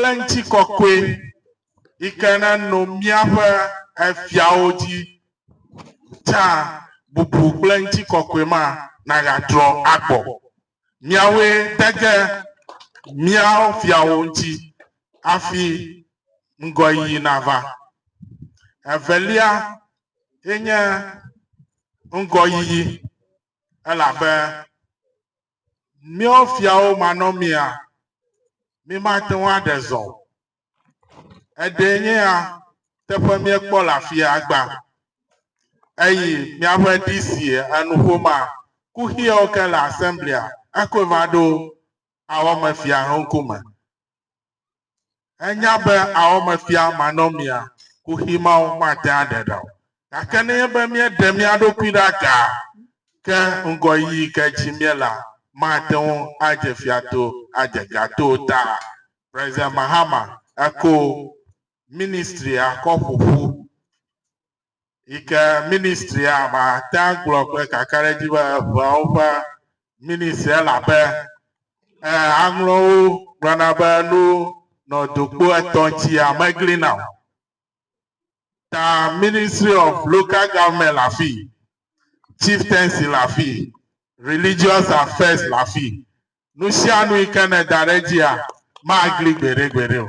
kple ŋutikɔkɔe yi ke neno míaƒe efiawo dzi tsã, bubu kple ŋutikɔkɔe ma nagatrɔ agbɔ. Miawoe de ge mía fiawo ŋuti hafi ŋgɔyiyi nava. Evelia enye ŋgɔyiyi, elabe Míawo fiawo manɔmea, mímate ŋu aɖe zɔ o. Eɖee nye ya teƒe míekpɔ le afia gbã. Eyi míaƒe DC enuƒomea, kuxiawo ke le Assemblia, ekɔe va ɖo awɔmefia ŋkume. Enya be awɔmefia manɔmea kuxi mawo mate ŋu aɖe ɖa o. Gake nenye be míeɖe mía ɖokui ɖe agaa ke ŋgɔyiyi ke dzi míele la, mate ŋu adze fia to ade ga to o. Ta President Mahama eko ministria kɔ ƒo ƒu. yi ke ministria mate ŋu agblɔ kple kakaɖedzi be eŋeawo ƒe ministri elabe eh, aŋlɔwo gblɔna be nu nɔ dokpo etɔ̃ ŋuti amegli na o. Ta Ministry of Local Government le afi, Chieftaincy le afi, Religious Affairs le afi. Nu sia nu yi ke nèda ɖe edzia, magli gbeɖegbeɖe o.